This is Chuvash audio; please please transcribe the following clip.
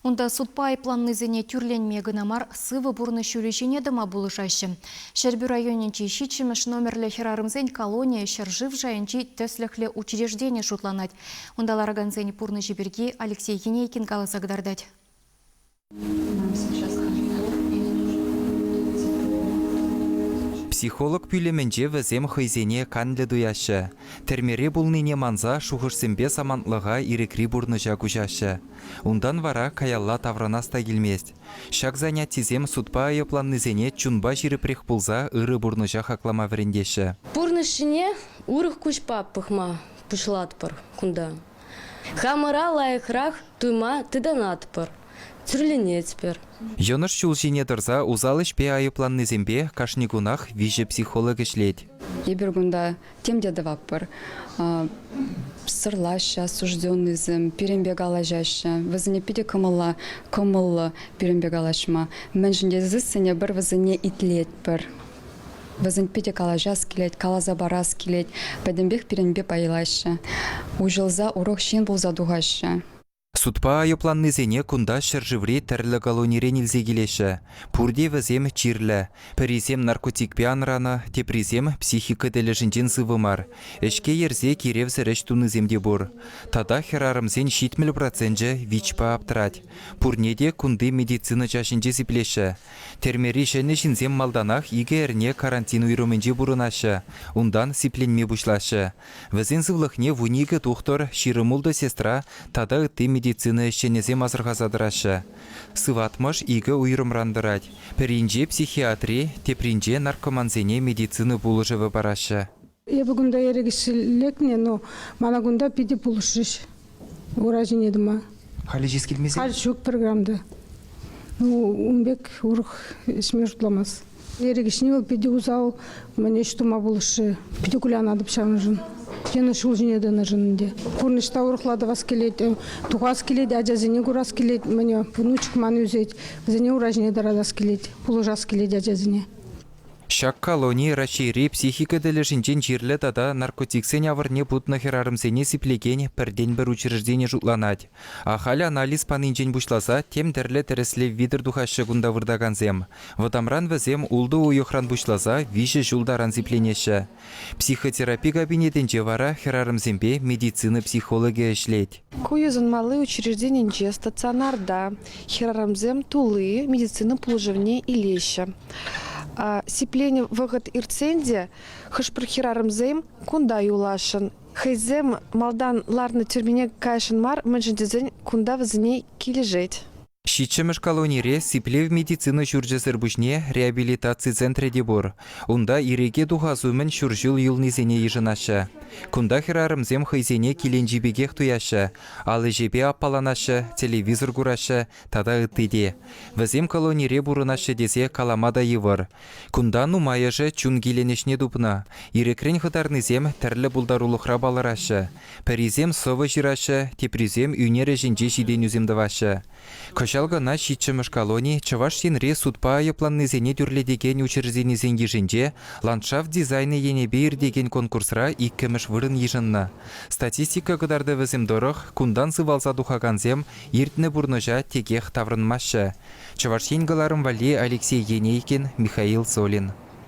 Унта судпа айӑпланнисене тӳрленме кӑна мар, сывӑ пурнӑҫ ҫулӗ ҫине тӑма пулӑшаҫҫӗ. Ҫӗрпӳ районӗнчи ҫиччӗмӗш номерлӗ хӗрарӑмсен колонийӗ ҫӗршыв шайӗнчи тӗслӗхлӗ учреждени шутланать. Унта ларакансен пурнӑҫӗ пирки Алексей Енейкин каласа кӑтартать. Психолог пӳлӗмӗнче вӗсем хӑйсене канлӗ туяҫҫӗ. Тӗрмере пулнине манса шухӑшсемпе самантлӑха ирӗкри пурнӑҫа куҫаҫҫӗ. Унтан вара каялла таврӑнас та килмест. Ҫак занятисем судпа айӑпланнисене чунпа ҫирӗпрех пулса ырӑ пурнӑҫа хаклама вӗрентеҫҫӗ. Пурнӑҫ ҫине урӑх куҫпа пӑхма пуҫлатпӑр кунта. Хамӑра лайӑхрах туйма тытӑнатпӑр, тӳрленетпӗр. Йӑнӑш ҫул ҫине тӑрса усал ӗҫпе айӑпланнисемпе кашни кунах виҫӗ психолог ӗҫлет. Эпир кунта тем те тӑватпӑр. Сӑрлаҫҫӗ осужденнӑйсем, пирӗнпе калаҫаҫҫӗ. Вӗсене питӗ кӑмӑлла, кӑмӑллӑ пирӗнпе калаҫма. Мӗншӗн тесессӗн эпир вӗсене итлетпӗр. Вӗсен питӗ калаҫас килет, каласа парас килет. Пӗтӗмпех пирӗнпе пайлаҫҫӗ. Уҫӑлса урок ҫын пулса тухаҫҫӗ. Судпа айӑпланнисене кунта ҫӗршыври тӗрлӗ колонирен илсе килеҫҫӗ. Пурте вӗсем чирлӗ. Пӗрисем наркотикпе анранӑ, теприсем психика тӗлӗшӗнчен сывӑ мар. Ӗҫке ерсе киревсӗр ӗҫ тунисем те пур. Тата хӗрарӑмсен ҫитмӗл проценчӗ ВИЧпа аптрать. Пурне те кунти медицина чаҫӗнче сиплеҫҫӗ. Тӗрмери ҫӗнӗ ҫынсем малтанах икӗ эрне карантин уйрӑмӗнче пурӑнаҫҫӗ, унтан сипленме пуҫлаҫҫӗ, Вӗсен сывлӑхне вун икӗ тухтӑр, ҫирӗм-ултӑ сестра тата ытти медицина ӗҫченӗсем асӑрхаса тӑраҫҫӗ. Сыватмӑш икӗ уйрӑмран тӑрать, пӗринче психиатри, тепринче наркомансене медицина пулӑшӑвӗ параҫҫӗ. Эпӗ кунта ирӗкӗҫ лекнӗ, но мана кунта питӗ пулӑшрӗҫ. ура ҫине тӑма. Халӗ ҫиес килмесен? Халь ҫук пӗр грамм та. Ну, ун пек урӑх ӗҫме шутламас. Эрик ӗҫне вӑл питӗ усал мӗн ӗҫ тума пулӑшрӗ. Питӗ кулянатӑп ҫавӑншӑн. Тенӗ ҫул ҫине тӑнӑшӑн ӗнтӗ. Пурнӑҫ та урӑхла тӑвас килет, э, тухас килет, ачасене курас килет. Мӗне внучек ман ӳсет, вӗсене ура ҫине тӑратас килет, пулӑшас килет ачасене. Ҫак колони Раҫҫейри психика тӗлӗшӗнчен чирлӗ тата наркотиксен авӑрне путнӑ хӗрарӑмсене сиплекен пӗртен-пӗр учреждени шутланать. Ахаль анализ панинчен пуҫласа тем тӗрлӗ тӗрӗслев витӗр тухаҫҫӗ кунта выртакансем. Вӑтамран вӗсем ултӑ уйӑхран пуҫласа виҫӗ ҫул таран сипленеҫҫӗ. Психотерапи кабинетӗнче вара хӗрарӑмсемпе медицина психологӗ ӗҫлет. Ку йышӑнмалли учрежденинче стационарта хӗрарӑмсем тулли медицина пулӑшӑвне илеҫҫӗ. Сипленӗ вӑхӑт иртсен те хӑш-пӗр хӗрарӑмсем кунта юласшӑн. Хӑйсем малтан ларнӑ тюрмене кайсшӑн мар, мӗншӗн тесен кунта вӗсене килӗшет. Ҫиччӗмӗш колонире сиплев медицина ҫурчӗсӗр пуҫне реабилитаци центрӗ те пур. Унта ирӗке тухас умӗн ҫур ҫул юлнисене йышӑнаҫҫӗ. Кунта хӗрарӑмсем хӑйсене киленчи пекех туяҫҫӗ, ал ӗҫӗпе аппаланаҫҫӗ, телевизор кураҫҫӗ тата ытти те. Вӗсем колонире пурӑнаҫҫӗ тесе калама та йывӑр. Кунта нумайӑшӗ чун киленӗҫне тупнӑ. Ирӗкрен хӑтарнисем тӗрлӗ пултарулӑхра палӑраҫҫӗ, Пӗрисем сӑвӑ ҫыраҫҫӗ, теприсем ӳнер ӗҫӗнче ҫитӗнӳсем тӑваҫҫӗ. Кӑҫал кӑна ҫиччӗмӗш колони Чӑваш Енре судпа айӑпланнисене тӳрлетекен учрежденисен йышӗнче Ландшафт дизайнӗ енӗпе иртекен конкурсра иккӗмӗш вырӑн йышӑннӑ. Статистика кӑтартӑвӗсем тӑрӑх, кунтан сывалса тухакансем иртнӗ пурнӑҫа текех таврӑнмаҫҫӗ. Чӑваш Ен кӑларӑм валли Алексей Енейкин, Михаил Цолин.